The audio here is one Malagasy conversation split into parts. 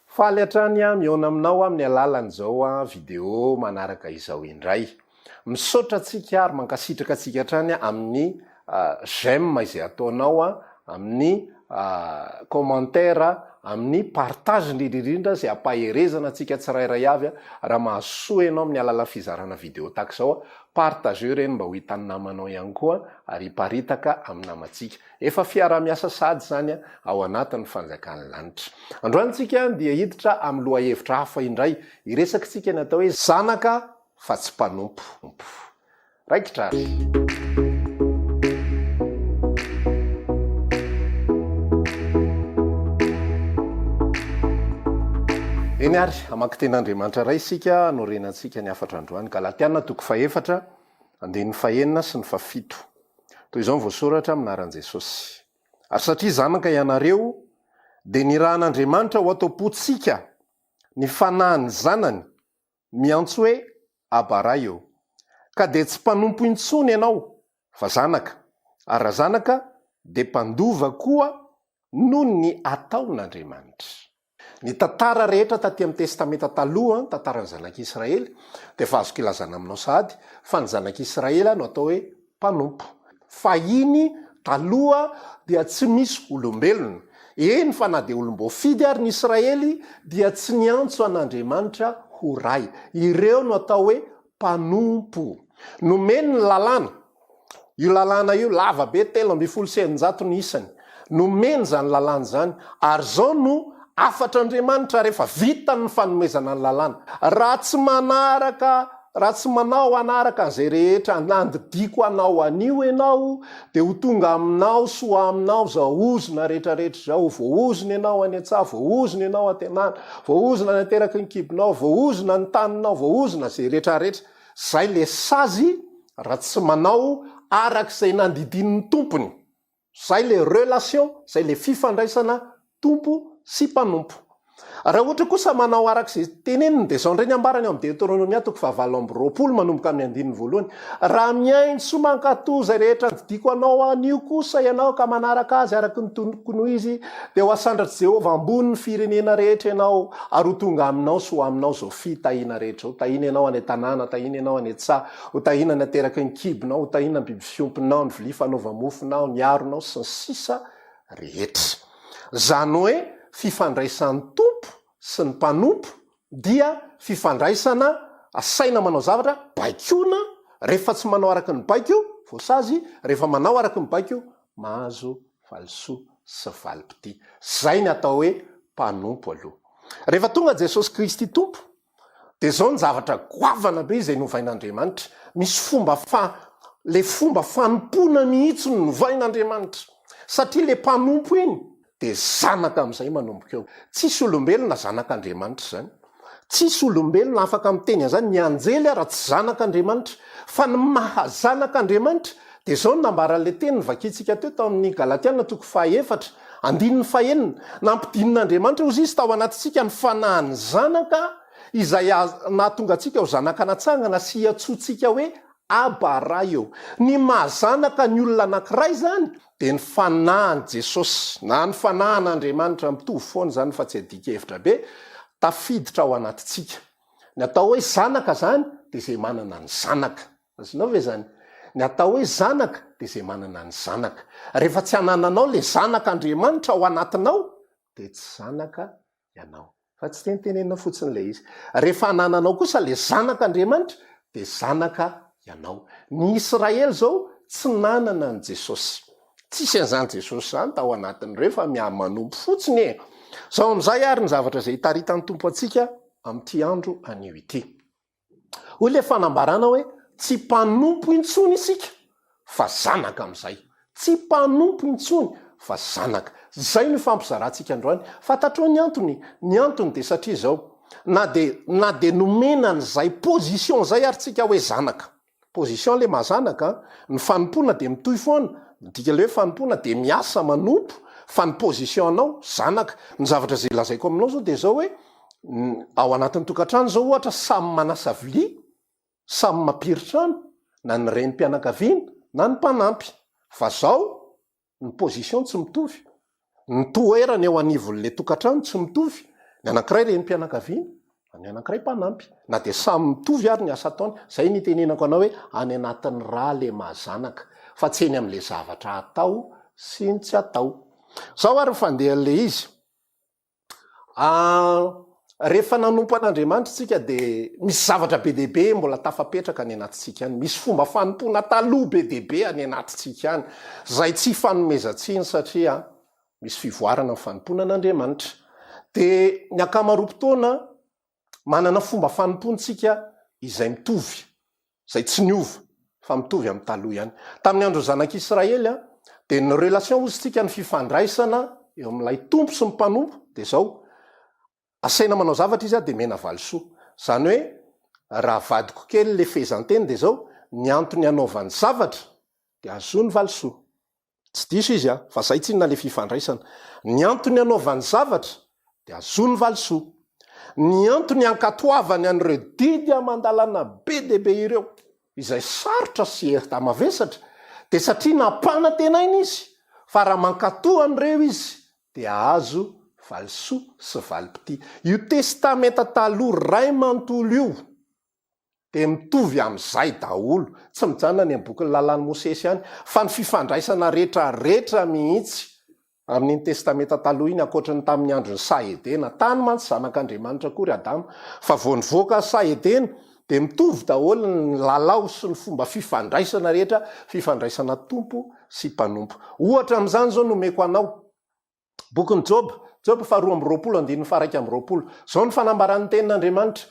Faly hatrany aho mihaona aminao amin'ny alalan'izao video manaraka izao indray. Misaotra antsika ary mankasitraka antsika hatrany amin'ny j'aime izay ataonao, amin'ny commentaire, amin'ny partage indrindra indrindra izay ampaherezana antsika tsirairay avy. Raha mahasoa ianao amin'ny alalan'ny fizarana video tahaka izao, partageo ireny mba ho hitan'ny namanao ihany koa ary hiparitaka amin'ny namantsika. Efa fiaraha-miasa sahady izany ao anatin'ny fanjakan'ny lanitra. Androany tsika dia hiditra amin'ny lohahevitra hafa indray. Hiresaka isika ny atao hoe zanaka fa tsy mpanompo. Raikitra ary. Eny ary, hamaky Tenin'Andriamanitra iray isika hanorenantsika ny hafatra androany. Galatiana toko fahefatra, andininy fahenina sy ny fafito. Toy izao ny voasoratra amin'ny anaran'i Jesosy. Ary satria zanaka ianareo, dia nirahan'Andriamanitra ho ato am-pontsika ny Fanahin'ny Zanany, miantso hoe, Abba Ray ô. Ka dia tsy mpanompo intsony ianao, fa zanaka, ary raha zanaka, dia mpandova koa noho ny ataon'Andriamanitra. Ny tantara rehetra taty amin'ny Testamenta Taloha, ny tantaran'ny Zanak'i Israely, dia efa azoko ilazana aminao sahady fa ny Zanak'i Israely no atao hoe mpanompo. Fahiny, taloha, dia tsy misy olombelona, eny fa na dia olom-boafidy ary ny Israely, dia tsy niantso an'Andriamanitra ho Ray. Ireo no atao hoe mpanompo. Nomeny ny lalàna. Io lalàna io lava be, telo ambin'ny folo sy eninjato ny isany. Nomeny izany lalàna izany, ary izao no hafatr'Andriamanitra rehefa vita ny fanomezana ny lalàna, Raha tsy manaraka, raha tsy manao hanaraka an'izay rehetra nandidiako anao anio ianao, Dia ho tonga aminao sy ho aminao izao ozona rehetrarehetra izao, voaozona ianao any an-tsaha, voaozona ianao an-tenana, voaozona any an-teraky ny kibonao, voaozona ny taninao, voaozona izay rehetrarehetra. Izay ilay sazy raha tsy manao araka izay nandidian'ny tompony. Izay ilay relation, izay ilay fifandraisana Tompo sy mpanompo. Raha ohatra kosa manao araka izay teneniny dia izao indray ny ambarany ao amin'ny Deoteronomia toko fahavalo amby roapolo manomboka amin'ny andininy voalohany, Raha mihaino sy mankatò izay rehetra nodidiko anao anio kosa ianao ka manaraka azy araka ny tokony ho izy, dia ho hasandratr'i Jehovah ambony ny firenena rehetra ianao, ary ho tonga aminao sy ho aminao izao fitahiana rehetra, ho tahiana ianao any an-tanàna, tahiana ianao any an-tsaha, ho tahiana ny ateraky ny kibonao, ho tahiana ny biby fiompinao, ny vilia fanaova-mofonao, ny aronao, sy ny sisa. rehetra. Izany hoe fifandraisan'ny tompo sy ny mpanompo dia fifandraisana asaina manao zavatra, baikoina, rehefa tsy manao araka ny baiko, voasazy, rehefa manao araka ny baiko, mahazo valisoa sy valim-pitia. Izay ny atao hoe mpanompo aloha. Rehefa tonga Jesosy Kristy Tompo, Dia izao ny zavatra goavana be izay novain'Andriamanitra. Misy fomba fa, ilay fomba fanompoana mihitsy no novain'Andriamanitra. Satria ilay mpanompo iny dia zanaka amin'izay manomboka eo. Tsisy olombelona zanak'Andriamanitra izany. Tsisy olombelona afaka miteny an'izany. Ny anjely ara tsy zanak'Andriamanitra. Fa ny maha zanak'Andriamanitra Dia izao no nambaran'ilay teny novakintsika teo tao amin'ny Galatiana toko fahaefatra, andininy fahenina, Nampidinin'Andriamanitra hozy Izy tao anatintsika ny fanahin'ny Zanaka, izay nahatonga antsika ho zanaka natsangana sy iantsoantsika hoe Aba, Ray ô. Ny maha-zanaka ny olona anankiray izany dia ny fanahin'i Jesosy, na ny fanahin'Andriamanitra, mitovy foana izany fa tsy adika hevitra be, tafiditra ao anatintsika. Ny atao hoe zanaka izany dia izay manana ny zanaka. Azonao ve izany? Ny atao hoe zanaka dia izay manana ny zanaka. Rehefa tsy anananao ilay zanak' Andriamanitra ao anatinao dia tsy zanaka ianao. Fa tsy tenitenenina fotsiny ilay izy. Rehefa anananao kosa ilay zanak' Andriamanitra dia zanaka ianao. Ny Israely izao tsy nanana an'i Jesosy. Tsisy an'izany Jesosy izany tao anatin'ireo fa miha-manompo fotsiny e! Izao amin'izay ary ny zavatra izay hitaritan'ny Tompo antsika amin'ity andro anio ity. Hoy ilay fanambarana hoe, Tsy mpanompo intsony isika, fa zanaka amin'izay. Tsy mpanompo intsony, fa zanaka. Izay no ifampizarantsika androany. Fantatrao ny antony? Ny antony dia satria izao, na dia, na dia nomena an'izay position izay ary tsika hoe zanaka, Position le mahazanaka an! Ny fanompoana dia mitohy foana, midika le hoe fanompoana dia miasa manompo, fa ny position anao zanaka. Ny zavatra izay lazaiko aminao izao dia izao hoe, ao anatin'ny tokantrano izao ohatra samy manasa vilia, samy mampiry trano, na ny renim-pianakaviana, na ny mpanampy. Fa izao, Ny position tsy mitovy, ny toerana eo anivon'le tokantrano tsy mitovy, ny anankiray renim-pianakaviana, ny anankiray mpanampy, na dia samy mitovy ary ny asa ataony, zay ny itenenako anao hoe any anatin'ny ra le maha zanaka, fa tsy eny amle zavatra atao sy ny tsy atao. Zao ary ny fandehan'le izy, Rehefa nanompo an'Andriamanitra isika dia misy zavatra be dia be mbola tafapetraka any anatintsika any. Misy fomba fanompoana taloha be dia be any anatintsika any, izay tsy ifanomezan-tsiny satria misy fivoarana ny fanompoana an'Andriamanitra. Dia ny ankamaroam-potoana Manana fomba fanompoantsika izay mitovy, izay tsy niova, fa mitovy amin'ny taloha ihany. Tamin'ny andron'ny zanak'Israely dia ny relation hozy tsika, ny fifandraisana eo amin'ilay Tompo sy ny mpanompo dia izao, asaina manao zavatra izy dia mena valisoa. Izany hoe raha vadiko kely ilay fehezanteny dia izao, ny antony anaovany zavatra dia ahazoany valisoa. Tsy diso izy an, fa zay tsinona le fifandraisana. Ny antony hanaovany zavatra de azony valisoa. Ny antony hankatoavany an'ireo didy aman-dalàna be dia be ireo, izay sarotra sy herta mavesatra, de satria nampanantenaina izy fa raha mankatoa an'ireo izy de hahazo valisoa sy valim-pitia. Io testamenta taloha ray manontolo io dia mitovy amin'izay daholo, tsy mijanona any amin'ny bokin'ny lalàn'i Mosesy ihany, fa ny fifandraisana rehetrarehetra mihitsy amin'iny Testamenta Taloha iny, ankoatry ny tamin'ny andron'ny saha Edena. Tany mantsy zanak'Andriamanitra koa ry Adama, fa vao nivoaka saha Edena, dia mitovy daholo ny lalao sy ny fomba fifandraisana rehetra, fifandraisana tompo sy mpanompo. Ohatra amin'izany izao no omeko anao, Bokin'i Joba, Joba faharoa amby roapolo andininy faharaika amby roapolo. Izao no fanambaran'ny tenin'Andriamanitra,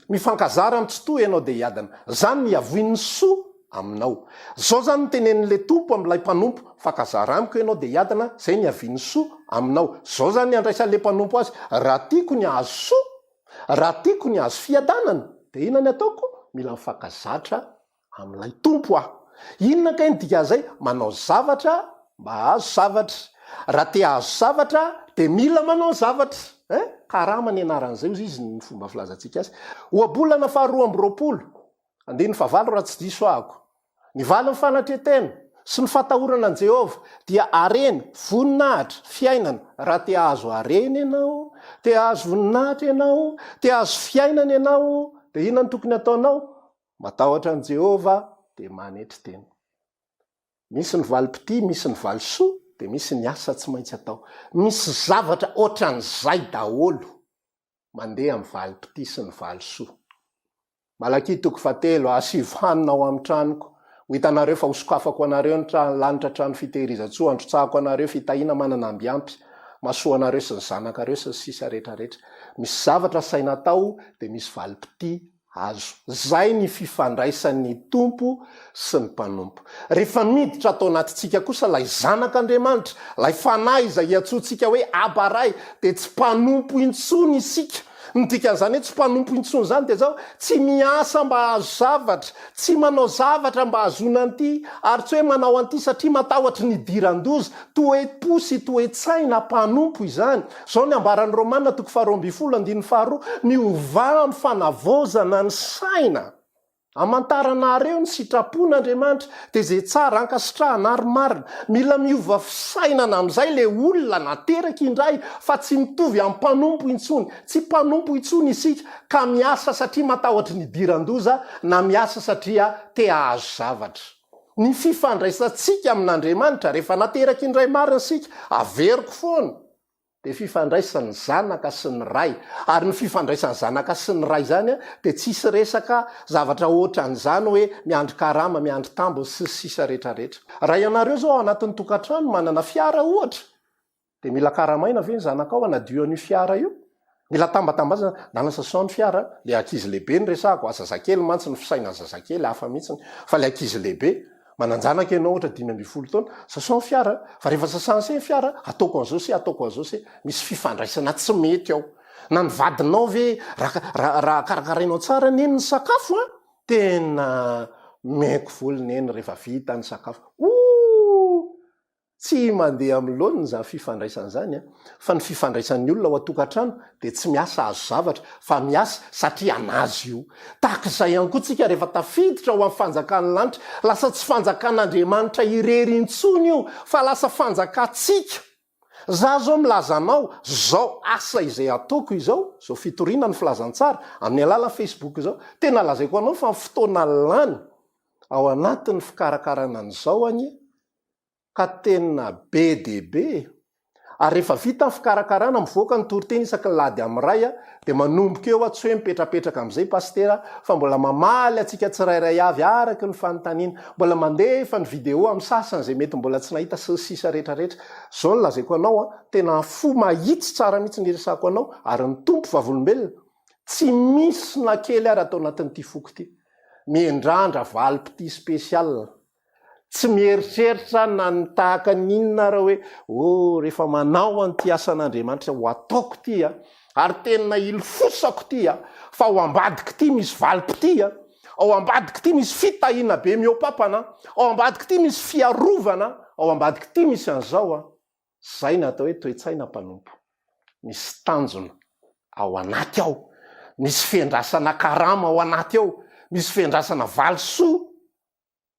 Mifankazara amin'ny tsitoha ianao dia hiadana. Izany no hiavoin'ny soa aminao. Izao izany no tenenin'ilay Tompo amin'ilay mpanompo, Mifankazara amiko ianao dia hiadana, izay no hiavian'ny soa aminao. Izao izany no handraisan'ilay mpanompo azy, Raha tiako ny hahazo soa, raha tiako ny hahazo fiadanana, dia inona ny ataoko? Mila mifankazatra amin'ilay Tompo aho. Inona kay ny dikan'izay? Manao zavatra mba hahazo zavatra. Raha te hahazo zavatra dia mila manao zavatra. Hein? Karama ny anaran'izay hozy izy ny fomba filazantsika azy. Ohabolana faharoa amby roapolo, andininy fahavalo raha tsy diso ahako. Ny valin'ny fanatren-tena sy ny fatahorana an'i Jehovah dia harena, voninahitra, fiainana. Raha te hahazo harena ianao, te hahazo voninahitra ianao, te hahazo fiainana ianao, dia inona no tokony hataonao? Matahotra an'i Jehovah, dia manetry tena. Misy ny valim-pitia, misy ny valisoa, dia misy ny asa tsy maintsy atao. Misy zavatra hoatran'izay daholo mandeha amin'ny valim-pitia sy ny valisoa. Malakia toko fahatelo, Asivo hanina ao amin'ny tranoko. Ho hitanareo fa hosokafako anareo ny trano lanitra trano fitehirizan-tsoa, handrotsahako anareo fitahiana manana ambiampy, mahasoa anareo sy ny zanakareo, sy ny sisa rehetrarehetra. Misy zavatra asaina atao, dia misy valim-pitia Azo. Izay ny fifandraisan'ny Tompo sy ny mpanompo. Rehefa miditra ato anatintsika kosa ilay Zanak'Andriamanitra, ilay Fanahy izay iantsoantsika hoe Aba Ray, dia tsy mpanompo intsony isika. Ny dikan'izany hoe tsy mpanompo intsony izany dia izao, tsy miasa mba hahazo zavatra, tsy manao zavatra mba hahazoana an'ity, ary tsy hoe manao an'ity satria matahotra ny hidiran-doza. Toe-po sy toe-tsaina mpanompo izany. Izao ny ambaran'i Romana toko faharoa ambin'ny folo andininy faharoa, Miovà amin'ny fanavaozana ny saina. Amantaranareo ny sitrapon'Andriamanitra, dia izay tsara ankasitrahana ary marina. Mila miova fisainana amin'izay ilay olona nateraka indray, fa tsy mitovy amin'ny mpanompo intsony. Tsy mpanompo intsony isika, ka miasa satria matahotra ny hidiran-doza, na miasa satria te-hahazo zavatra. Ny fifandraisantsika amin'Andriamanitra, rehefa nateraky ny Ray marina isika, averiko foana, dia fifandraisan'ny Zanaka sy ny Ray. Ary ny fifandraisan'ny Zanaka sy ny Ray izany dia tsy hisy resaka zavatra hoatran'izany hoe miandry karama, miandry tambiny sy ny sisa rehetra rehetra. Raha ianareo izao ao anatin'ny tokantrano manana fiara ohatra, Dia mila karamaina ve ny zanakao hanadio an'io fiara io? Mila tambatambazana, na lasa sans ny fiara an! Ilay ankizy lehibe no resahako a! Zazakely mantsy ny fisainan'ny zazakely hafa mihitsy ny, fa ilay ankizy lehibe, manan-janaka ianao ohatra dimy ambin'ny folo taona, sasao ny fiara an! Fa rehefa sasany se ny fiara, ataoko an'izao se, ataoko an'izao se. Misy fifandraisana tsy mety ao. Na ny vadinao ve, raha, raha, raha karakarainao tsara neny ny sakafo an! Tena miaiky volo neny rehefa vita ny sakafo. Ooh! Tsy mandeha amin'ny laoniny izany fifandraisana izany an! Fa ny fifandraisan'ny olona ao an-tokantrano dia tsy miasa hahazo zavatra fa miasa satria hanazo io. Tahaka izay ihany koa tsika rehefa tafiditra ho amin'ny fanjakan'ny lanitra, lasa tsy fanjakan'Andriamanitra irery intsony io fa lasa fanjakantsika. Za izao milaza anao izao asa izay ataoko izao, izao fitoriana ny filazantsara amin'ny alalan'ny Facebook izao, tena lazaiko anao fa ny fotoana lany ao anatin'ny fikarakarana an'izao anie ka tena be dia be e! ary rehefa vita ny fikarakarana mivoaka ny toriteny isaky ny lahady amin'ny ray a! dia manomboka eo a! tsy hoe mipetrapetraka amin'izay pasitera fa mbola mamaly antsika tsirairay avy araka ny fanontaniana, mbola mandefa ny video amin'ny sasany izay mety mbola tsy nahita sy ny sisa rehetra rehetra, izao no lazaiko anao a! tena fo mahitsy tsara mihitsy ny iresako anao ary ny Tompo vavolombelona tsy misy na kely ary ato anatin'ity foko ity mihendrandra valim-pitia spécial. Tsy mieritreritra na ny tahaka ny inona ara hoe oh rehefa manao an'ity asan'Andriamanitra ho ataoko ity a, ary tena ilofosako ity a, fa ao ambadiko ity misy valim-pitia a, ao ambadiko ity misy fitahiana be mihoapapana a, ao ambadiko ity misy fiarovana a, ao ambadiko ity misy an'izao a. Izay no atao hoe toe-tsaina mpanompo. Misy tanjona ao anaty ao, misy fiandrasana karama ao anaty ao, misy fiandrasana valisoa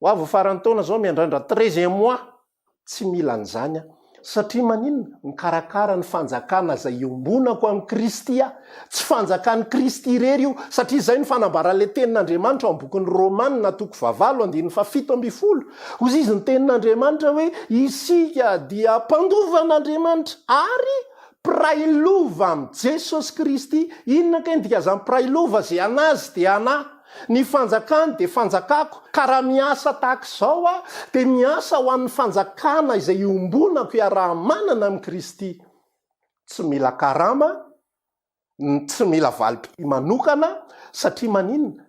Ho avy ny faran'ny taona zao miandrandra treize mois tsy mila an'izany aho satria maninona? Mikarakara ny fanjakana izay iombonako amin'i Kristy aho. Tsy fanjakan'i Kristy irery io satria izay no fanambaran'ilay tenin'Andriamanitra ao amin'ny bokin'ny Romana toko fahavalo andininy fahafito ambin'ny folo. Hozy izy ny tenin'Andriamanitra hoe isika dia mpandovan'Andriamanitra ary mpiray lova amin'i Jesosy Kristy. Inona kay ny dikan'izany mpiray lova? Izay an'azy dia an'ahy. Ny fanjakany dia fanjakako, ka raha miasa tahaka izao aho, dia miasa ho an'ny fanjakana izay iombonako iaraha-manana amin'i Kristy. Tsy mila karama, tsy mila valim-pitia manokana, satria maninona?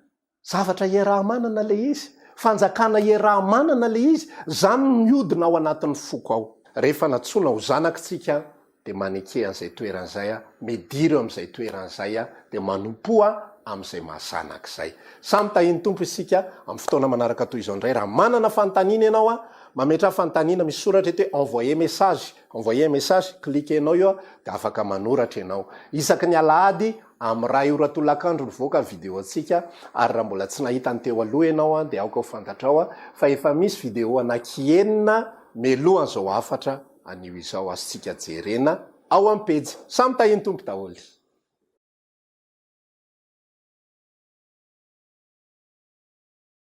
Zavatra iaraha-manana ilay izy, fanjakana iaraha-manana ilay izy, izany no mihodina ao anatin'ny foko ao. Rehefa nantsoina ho zanak'i tsika dia maneke an'izay toerana izay aho, midiro amin'izay toerana izay aho, dia manompoa aho amin'izay mahazanaka izay. Samy tahian'ny Tompo isika amin'ny fotoana manaraka toy izao indray. Raha manana fanontaniana ianao, mametraha fanontaniana, misy soratra eto hoe envoyer message, envoyer un message, cliquer-nao eo dia afaka manoratra ianao. Isaky ny alahady amin'ny iray ora tolakandro mivoaka ny video-ntsika, ary raha mbola tsy nahita ny teo aloha ianao dia aoka ho fantatrao fa efa misy video anaky enina mialohan'izao hafatra izao. Anio izao azontsika jerena ao amin'ny pejy. Samy tahian'ny Tompo daholo.